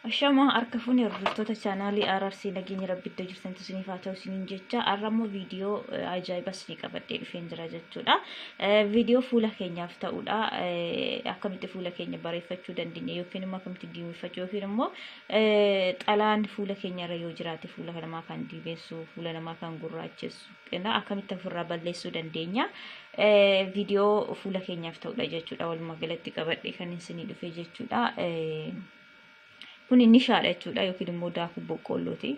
Ashamaa harka fuunee hordoftoota chaanaalii RRC nageenya rabbitti jirtan isiniif haa ta'u isiniin jecha har'a immoo viidiyoo ajaa'iba isinii qabadhee dhufeen jira jechuudha. Viidiyoo fuula keenyaaf ta'udha. Akkamitti fuula keenya bareeffachuu dandeenya yookiin immoo akkamitti diimeffachuu yookiin immoo xalaan fuula keenya irra yoo jiraate fuula namaa kan diimessu fuula namaa kan gurraachessu Egaa akkamitti ofirraa balleessuu dandeenya? Eh, Viidiyoo fuula keenyaaf ta'udha jechuudha. Walumaa galatti qabadhe kan isinii dhufe jechuudha. Eh, Kun nishaadha jechuudha yookiin immoo daakuu boqqoollooti.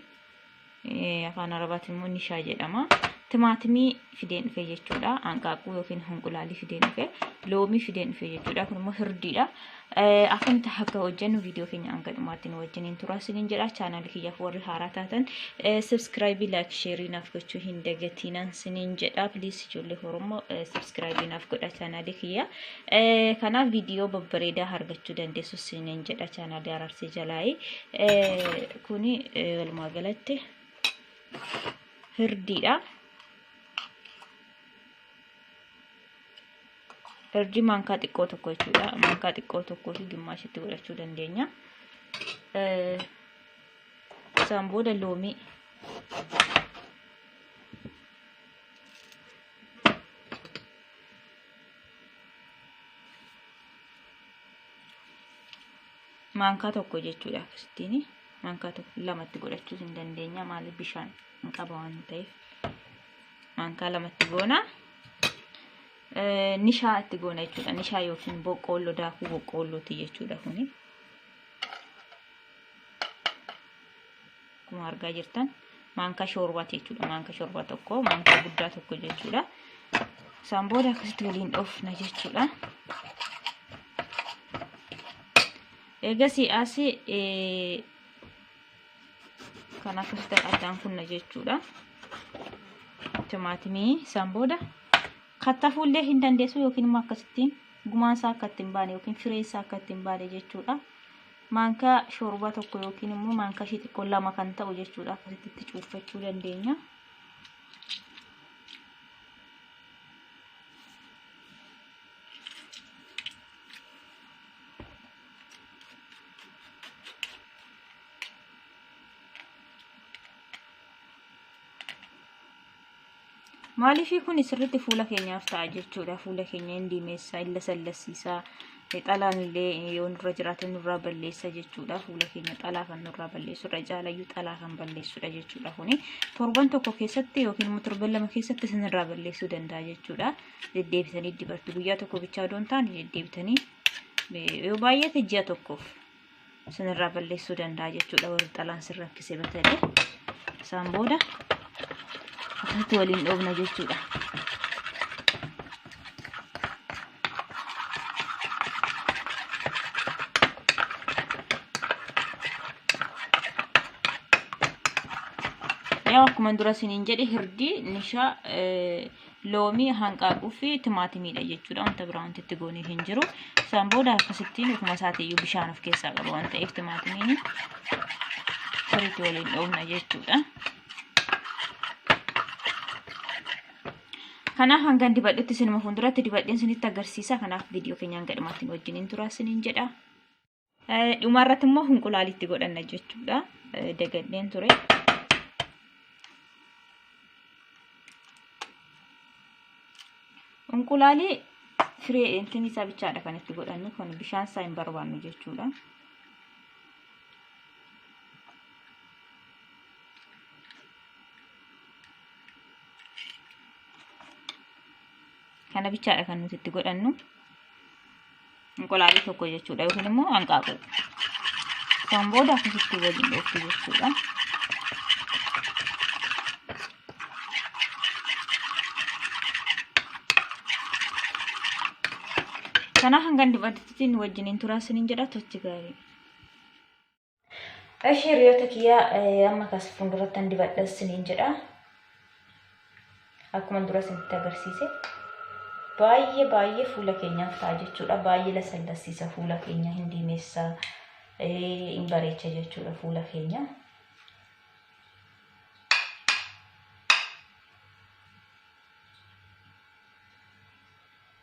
Eh, Afaan Arabaatiin immoo nishaa jedhama. Timaatimii fideen dhufe jechuudha. Hanqaaquu yookiin hunqulaalii fideen dhufe. Loomii fideen dhufe jechuudha. Kun immoo hirdiidha. Akkamitti akka hojjennu viidiyoo keenya hanga dhumaatti nu wajjiniin turaa isiniin jedha. Chaanaalii kiyyaaf warri haaraa taatan sabskraayibii laayik sheerii naaf gochuu hin dagatiinaan isiniin jedha. Piliis ijoollee Oromoo sabskraayibii naaf godha chaanaalii kiyya. Kanaaf viidiyoo babbareedaa argachuu dandeessu isiniin jedha chaanaalii araarsee jalaayi. Kuni walumaa galatti hirdiidha. Darjii maankaa xiqqoo tokko jechuudha. Maankaa xiqqoo tokkoo fi gimmaashitti godhachuu dandeenya. Isaan booda loomii. Maankaa tokko jechuudha akkasittiin. Maankaa tokko lamatti godhachuus hin dandeenya maaliif bishaan hin qaba waan ta'eef. maankaa lamatti goona. Nishaa itti goona jechuudha. Nishaa yookiin boqqoolloo daakuu boqqoollooti jechuudha kuni. Akkuma argaa jirtan maankaa shoorbaati jechuudha. Maankaa shoorbaa tokko maankaa guddaa tokko jechuudha. Isaan booda akkasitti waliin dhoofna jechuudha. Eegasii asii kan akkasitti addaan kunna jechuudha. Timaatimii isaan booda kattafuu illee hin dandeessu yookiin immoo akkasitti gumaan isaa akka ittiin baane yookiin fireen isaa akka ittiin baane jechuudha. Maankaa shoorbaa tokko yookiin immoo maankaa ishii xiqqoo lama kan ta'u jechuudha akkasitti itti cuunfachuu dandeenya. maaliifii kun sirriitti fuula keenyaaf ta'a jechuudha fuula keenya hin diimeessa hin lasallassiisa xalaan illee yoo nurra jiraate nurraa balleessa jechuudha fuula keenya xalaa kan nurraa balleessudha caalayyuu xalaa kan balleessudha jechuudha kuni torban tokko keessatti yookiin immoo torban lama keessatti isinirraa balleessuu danda'a jechuudha deddeebitanii dibattu guyyaa tokko bichaa doon taane deddeebitanii yoo baay'ate ji'a tokkoof isinirraa balleessuu danda'a jechuudha warri xalaan sin rakkise batale isaan booda akkasitti waliin dhoobna jechuudha. Yaa akkuma dura isiniin jedhe hirdii nishaa loomii, hanqaaquu fi timaatimiidha jechuudha. Wanta biraa wanti itti goonee hin jiru. Isaan booda akkasittiin ofuma isaatiiyyuu bishaan of keessaa qaba waan ta'eef timaatimiin sirriitti waliin dhoofna jechuudha. Kanaaf hangan dibadhutti sinuma fuulduratti dibadheen sinitti agarsiisa. Kanaaf viidiyoo keenyaan gadhumatti wajjin hin turaa siniin jedha. Dhumarratti immoo hinqulaalitti godhanna jechuudha. Dagadheen ture. Hinqulaalii firee intinni isaa bichaadha kan itti godhannu kun bishaan isaa hin barbaannu jechuudha. Kana bichaadha kan nuti itti godhannu. Inqulaalii tokko jechuudha yookiin immoo hanqaaquu. Kan booda akkasitti waliin dhooftu jechuudha. Kana hangan dibadittiin wajjiniin turaa sinin jedha tochi gaarii. Ashii hiriyoota kiyyaa amma kas fuulduratti an dibadha isiniin jedha. Akkuma dura isinitti agarsiise. Baay'ee baay'ee fuula keenyaaf ta'a jechuudha. Baay'ee lasallassiisa fuula keenya hin diimessa hin bareecha jechuudha fuula keenya.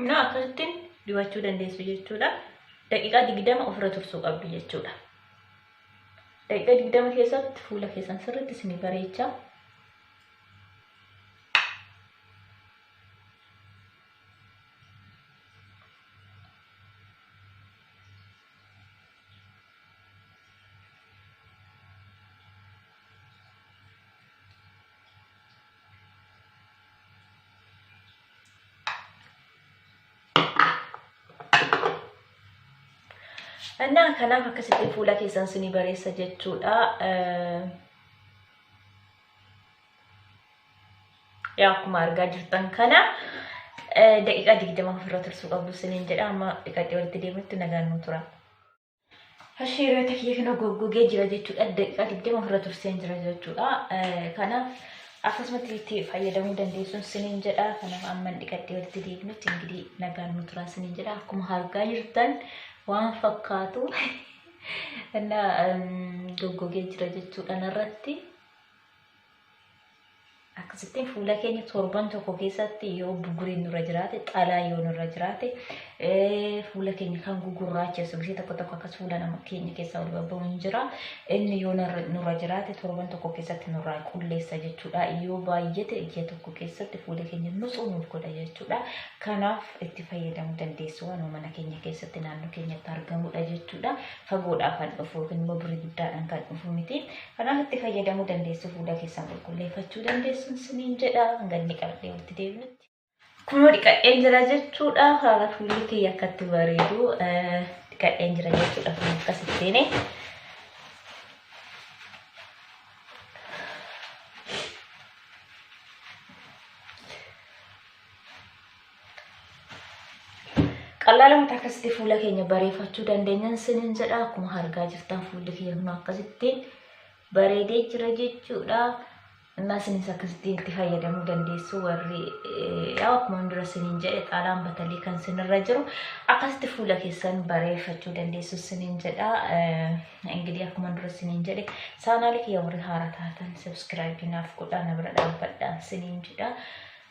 Innaa akkasitti dibachuu dandeessu jechuudha. Daqiiqaa digdama ofirra tursuu qabdu jechuudha. Daqiiqaa digdama keessatti fuula keessan sirriitti isin bareecha. Annaa kanaaf akkasitti fuula keessan sini bareessa jechuudha. yaa akkuma argaa jirtan kana daqiiqaa digdama ofirra tursuu qabdu siniin jedha amma dhiqaxee walitti deemutti nagaan nu tura. Hashii hiriyoota kiyya kana goggogee jira jechuudha daqiiqaa digdama ofirra turseen jira jechuudha kanaaf akkasumatti itti fayyadamuu dandeessuun siniin jedha kanaaf amma dhiqaxee walitti deemutti ingirii nagaan nu tura siniin jedha akkuma argaa jirtan waan fakkaatu goggogee jira jechuudha narratti. akkasittiin fuula keenya torban tokko keessatti yoo bugguriin nurra jiraate xalaa yoo nurra jiraate fuula keenya kan gugurraacheessu gisee tokko tokko akkas fuula nama keenya keessaa ol babba'u hin jira inni yoo nurra jiraate torban tokko keessatti nurraa qulleessa jechuudha yoo baay'ate ji'a tokko keessatti fuula keenya nutsuu nuuf godha jechuudha kanaaf itti fayyadamuu dandeessu waan mana keenya keessatti naannoo keenyatti argamudha jechuudha fagoodhaa kan dhufu yookiin immoo birii guddaadhaan kan dhufu miti Kanaaf itti fayyadamuu dandeessu fuula keessan qulqulleeffachuu dandeessu isiniin jedha hanga inni qabdee walitti deebinutti. Kunoo dhiqadheen jira jechuudha haala fuulli kiyya akkatti bareedu dhiqadheen jira jechuudha kun akkasittiin. Qal'aalamutti akkasitti fuula keenya bareeffachuu dandeenyan sinin jedha akkuma argaa jirtan fuulli keenya kun akkasitti bareedee jira jechuudha. Innaa sinis akkasitti itti fayyadamuu dandeessu warri yaa akkuma dura sinin jedhe xaalaan batalii kan sinirra jiru akkasitti fuula keessan bareeffachuu dandeessu sinin jedha. Ingilee akkuma dura sinin jedhe saanaalii kiyya warri haara taatan sabiskiraayibii naaf godhaa na bira dhaabbadhaan sinin jedha.